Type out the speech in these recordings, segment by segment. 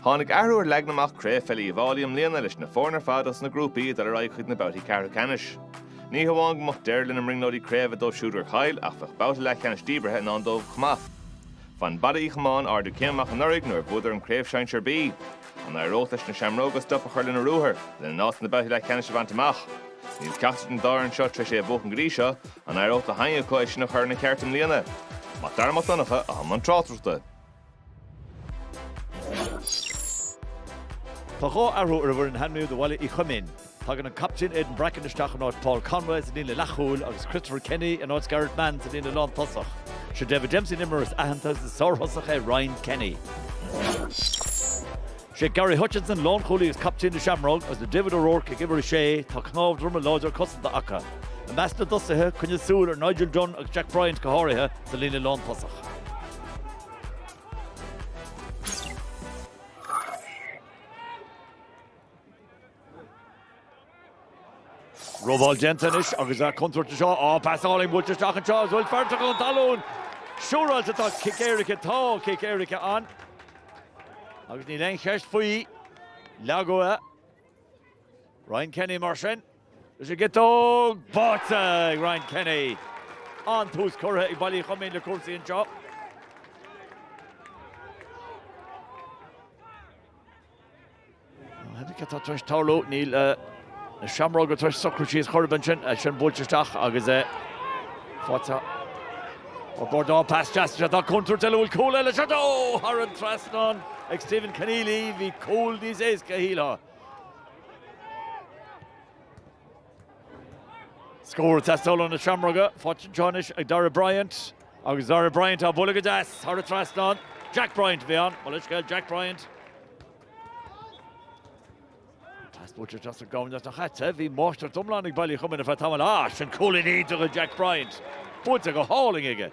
Tháinig athrú ar leagan amach Craobh Pheile Uíbh Fháilí i mbliana leis na foirne ar fad as na grúpaí ag dul ar aghaidh chuig na babhtaí ceathrú ceannais. Ní hamháin go mbeadh deireadh lena mbrionglóidí Craobh dóibh siúd gur chaill ach bheadh babhta leathcheannais díbeartha i ndán dóibh chomh maith. Bhain Baile Uí Chomáin ardú céime amach anuraidh nuair a bhuadar an Craobh Sinsear B. An éireodh leis na Seamróga stop a chur lena ruathar, lena n-áit sna babhtaí leathcheannais a bhaint amach? Níl ceachtar den dá fhoireann seo tar éis é a bhuachan go dtí seo, An éireodh le ceann acu é sin a chur ina cheart i mbliana? Mac Dara Mac Donncha, atá i mbun tráchtaireachta. Tá dhá athrú ar an bhfoireann a hainmníodh do Bhaile Uí Choimín. Tagann an captaen Aidan Bracken isteach in áit Paul Conway sa líne leathchúil agus Christopher Kenny in áit Gareth Mann sa líne lántosach. Seo David Dempsey an imreoir is aitheanta agus is sárthosach é Ryan Kenny. Is é Gary Hutchinson lánchúlaí agus captaen na Seamróg agus le David O'Rourke ag uimhir a sé, tá cnámh droma láidir cosanta acu. I measc na dtosaithe, coinnigh súil ar Nigel Dunne agus Jack Bryant go háirithe sa líne lántosach. Robáil déanta anois agus tá contúirt anseo pas álainn buailte isteach anseo is bhfuil fear tugtha chun talún siúráilte tá cic éirice tá cic éirice ann agus níl aon cheist faoi leagadh é Ryan Kenny mar sin leis an gciotóg báite ag Ryan Kenny an-tús curtha ag Baile Uí Choimín le cúrsaí anseo. Cad atá tar éis tarlú? Níl na Seamróga tar éis socrú síos. Chorbyn ansin, é sin buailte isteach agus é faighte ó Gordon. Pas deas isteach tá contúirt eile. Bhfuil cúl eile? Seoid! Ó! Thar an trasnán ag Stephen Conneely. Bhí cúl níos éasca a shílfeá. Scór ag teastáil ó na Seamróga, faighte anseo anois ag Darragh Bryant agus Darragh Bryant á bhualadh go deas thar an trasnán. Jack Bryant a bhí ann, mo leithscéal Jack Bryant. Taispeántar deas an gabhann as na haite, bhí máistreacht iomlán ag Baile Uí Choimín ar feadh tamaill ach sin cúilín eile do Jack Bryant. Buailte go hálainn aige.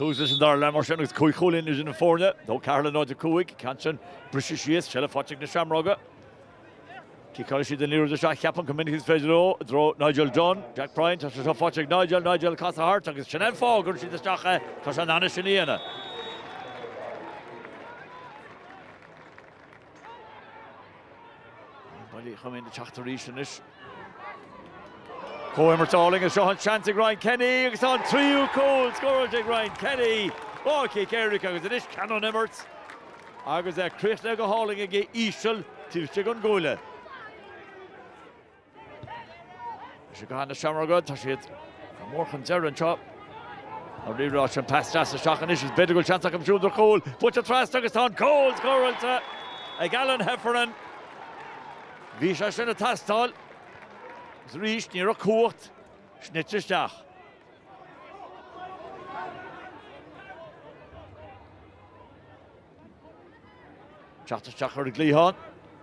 Thuas leis an dara leath mar sin agus cúig chúilín idir na foirne, 2 4 le 0 5. Ceann sin briste síos, seilbh faighte ag na Seamróga. Ciceálann siad an liathróid isteach, chomh minic is is féidir leo, i dtreo Nigel Dunne. Jack Bryant, tá sé seo faighte ag Nigel, Nigel casadh thart agus sin an fáth a gcuireann siad isteach é, tá sé in ann é sin a dhéanamh. Baile Uí Choimín na teachtarí sin is. Comhimirt álainn anseo, an seans ag Ryan Kenny agus tá an tríú cúl scóráilte ag Ryan Kenny. Dhá chic éirice agus anois ceann ón imirt agus é críochnaithe go hálainn aige íseal taobh istigh den gcuaille. Seo iad na Seamróga, tá siad go mór chun deireadh anseo. An pas deas isteach anois is b'fhéidir go bhfuil seans acu siúd ar chúl. Buaite trasna agus tá an cúl scóráilte ag Alan Heffernan. Bhí sé sin ag teastáil, agus arís ní raibh cumhacht caite isteach. Teacht isteach ar an gcliathán,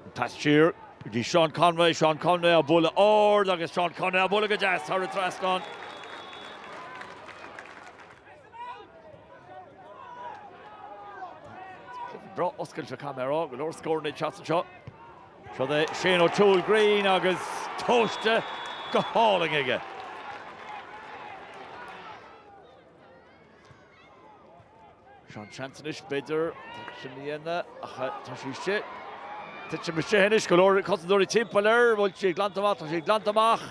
an pas siar go dtí Seán Conway, Seán Conway á bhualadh ard agus Seán Conway á bhualadh go deas thar an trasnán. Ró-oscailte caithfidh mé a rá, go leor scóranna deasa anseo. Seo é Shane O'Toole Greene agus tomhaiste go hálainn aige. Seo an seans anois, b'fhéidir, sin a dhéanamh, ach tá sí istigh. Titim istigh anois, go leor cosantóirí timpeall air, an bhfuil sí glanta amach, tá sí glanta amach.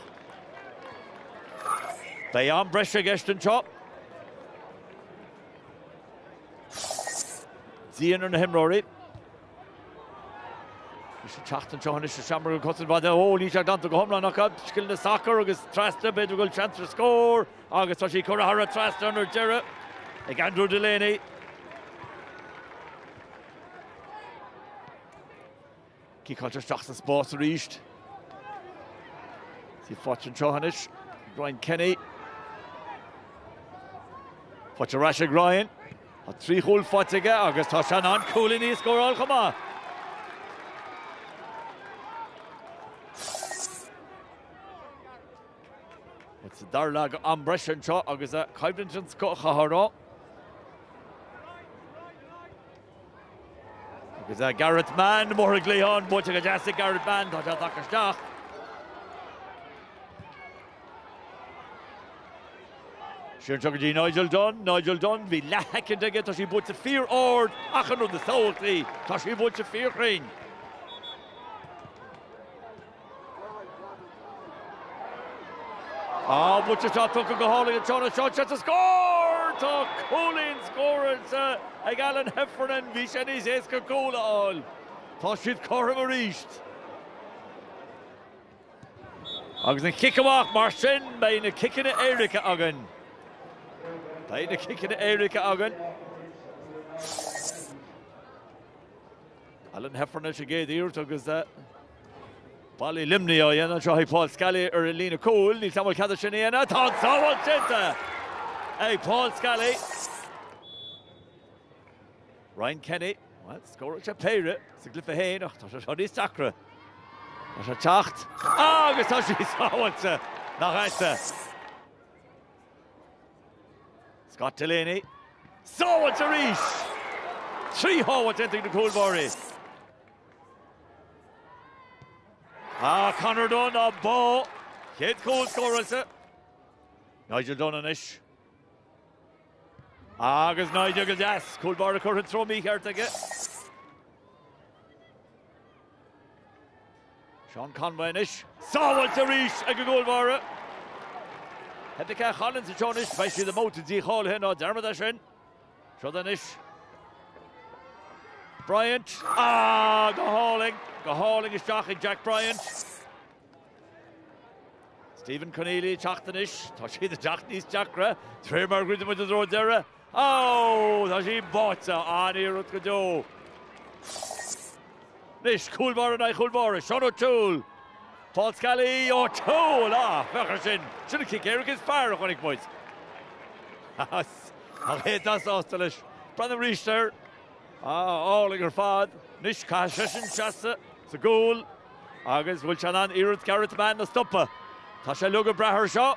Beidh am breise i gceist anseo. Deineadh na himreoirí. Isteach anseo anois is seamair go cosaint mhaith déanta. Ó, níl sé glanta go hiomlán acu. Scileanna sacair agus trasna, b'fhéidir go bhfuil seans ar scór agus tá sí curtha thar an trasnán ar deireadh ag Andrew Delaney. Ciceáilte isteach sa spás arís. Sí faighte anseo anois. Ryan Kenny. Faighte arís ag Ryan. Tá trí chúl faighte aige agus tá sé i ndan cúilíní a scóráil chomh maith. Sa dara leath den am breise anseo agus a caiimlinn an scochathhrá. Agus ó Gareth Mann, amach ar an gcliathán, buailte go deas ag Gareth Mann, tá sé ag teacht isteach. Sin seo go dtí Nigel Dunne, Nigel Dunne, bhí leathsheicind aige, tá sí buailte fíor-ard, ach an rud níos tábhachtaí, tá sí buailte fíor-chruinn. Á, bhuaite atá tugtha go hálainn an tráthnóna seo agus scór! Tá cúilín scóráilte ag Alan Heffernan, bhí sé níos éasca cúl a fháil. Tá siad cothrom arís. Agus an chic amach, mar sin beidh na ciceanna éirice againn. Beidh na ciceanna éirice againn. Alan Heffernan leis an gcéad iarracht agus Ball i Luimnigh á théamh anseo ag Paul Scally ar an líne chúil. Níl a fhios a'm an bhfuil cead é sin a dhéanamh. Tá an tsábháil déanta ag Paul Scally. Ryan Kenny, bhuel, scóráil sé péire sa gcluiche féin ach tá sé seo níos deacra. Tá sé ag teacht agus tá sí sábháilte, nach ait-se. Scott Delaney, sábháilte arís! Trí shábháil déanta ag na cúlbháirí. Ach Conor Dunne á bpá, chéad chúl scóráilte Nigel Dunne anois. Agus Nigel go deas, cúlbáire curtha an treo mícheart aige. Seán Conway anois, sábháilte arís ag an gcúlbáire. Theip le Cath Collins an treo anois, beidh siad i mbabhta dícháilithe ná dearmadaigí sin. Siod anois. Bryant, ah, go hálainn, go hálainn isteach ag Jack Bryant. Stephen Conneely ag teacht anois, tá siad ag teacht níos deacra, de réir mar a dhruideann muid i dtreo deireadh. Aw, tá sí buailte, an-iarracht go deo. Anois, cúlbáire in aghaidh cúlbáire, Seán O'Toole. Paul Scally, O'Toole! Ah, féach ar sin! Sin an cic éirice is fearr a chonaic muid. Tá sé an-sásta leis. Breathnú arís air. Ah, álainn ar fad. Anois, caithfidh seisean seasamh sa gcúl agus an bhfuil sé in ann iarracht Gareth Mann a stopadh? Tá sé ag brath air seo.